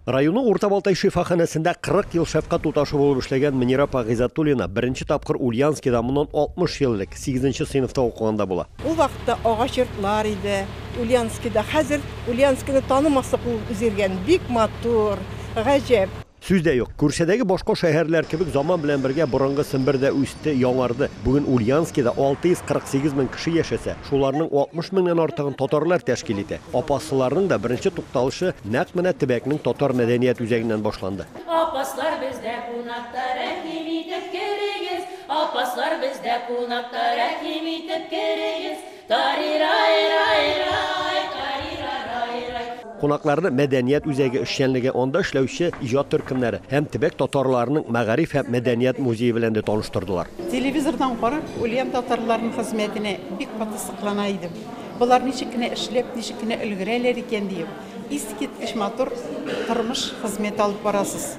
Районы Урта Балтай шифаханәсендә 40 ел шәфкать туташы булып эшләгән Мөнир апа Гыйззәтуллина беренче тапкыр Ульянскида моннан 60 ел элек, сигезенче сыйныфта укыганда була. Ул вакытта агач йортлар иде Ульянскида. Хәзер Ульянскины танымаслык булып үзгәргән. Бик матур, гаҗәп. Сүз дә юк. Күршедәге башка шәһәрләр кебек заман белән бергә борынгы Сембер дә үсте. китте, яңарды. Бүген Ульяновскида 648 мең кеше яшәсә, шуларның 60 меңнән артыгын татарлар тәшкил итә. Апаслыларның да беренче тукталышы нәкъ менә төбәкнең татар мәдәният үзәгеннән башланды. Апаслар бездә кунакта, рәхим итеп керегез, Апаслар бездә кунакта, рәхим итеп керегез. Тарирай-рай-рай, тарирарай-рай. Кунакларны мәдәният үзәге эшчәнлеге, анда эшләүче иҗат төркемнәре һәм төбәк татарларының мәгариф һәм мәдәният музее белән дә таныштырдылар. Телевизордан карап, Ульян татарларының хезмәтенә бик каты соклана идем. Болар ничек кенә эшләп, ничек кенә өлгерәләр икән, диеп, искиткеч матур тормыш, хезмәт алып барасыз.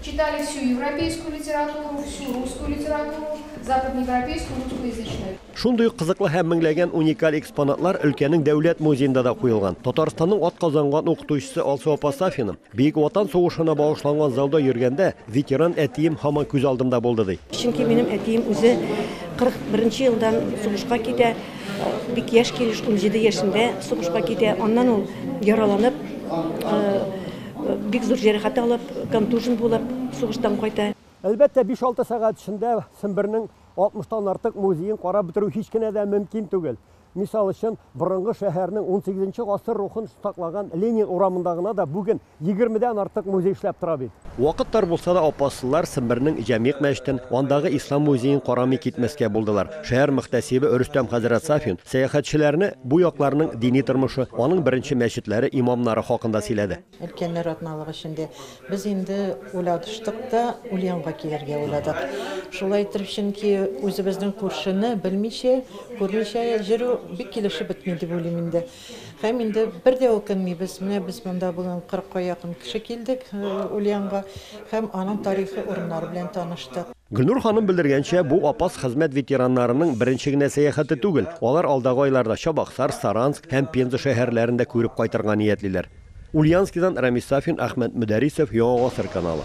Читали всю европейскую литературу, всю русскую литературу, западноевропейскую, русскоязычную. Шундый ук кызыклы һәм меңләгән уникаль экспонатлар өлкәнең Дәүләт музеенда да куелган. Татарстанның атказанган укытучысы Алсу апа Сафина, Бөек Ватан сугышына багышланган залда йөргәндә, ветеран әтием һаман күз алдымда булды, ди. Чөнки минем әтием үзе 41 нче елдан сугышка китә, бик яшь килеш, унҗиде яшендә сугышка китә. Аннан ул яраланып, Бик зур җәрәхәт алып, контужен булып, сугыштан кайта. Әлбәттә, биш-алты сәгать эчендә Сембернең 60 тан артык музеен карап бетерү һич кенә дә мөмкин түгел. Мисал өчен, борынгы шәһәрнең унсигез нче гасыр рухын саклаган Ленин урамында гына да бүген егерме дән артык музей эшләп тора бит. Вакыт тар булса да, апаслылар Сембернең Җәмигъ мәчетен, андагы Ислам музеен карамый китмәскә булдылар. Шәһәр мөхтәсибе Рөстәм хәзрәт Сафин сәяхәтчеләрне бу якларның дини тормышы, аның беренче мәчетләре, имамнары хакында сөйләде. Өлкәннәр атналыгы эчендә без инде уйлаштык та, Ульянга килергә уйладык. Шулай итеп, чөнки үзебезнең күршене белмичә, күрмичә йөрү бик килешеп бетми дип уйлыйм инде. Һәм инде бер дә үкенмибез, менә без монда бүген кырыкка якын кеше килдек Ульянга һәм аның тарихи урыннары белән таныштык. Гөлнур ханым белдергәнчә, бу Апас хезмәт ветераннарының беренче генә сәяхәте түгел. Алар алдагы айларда Чабаксар, Саранск һәм Пенза шәһәрләрен дә күреп кайтырга ниятлиләр. Ульянскидан Рамис Сафин, Әхмәт Мөдәрисов, Яңа гасыр каналы.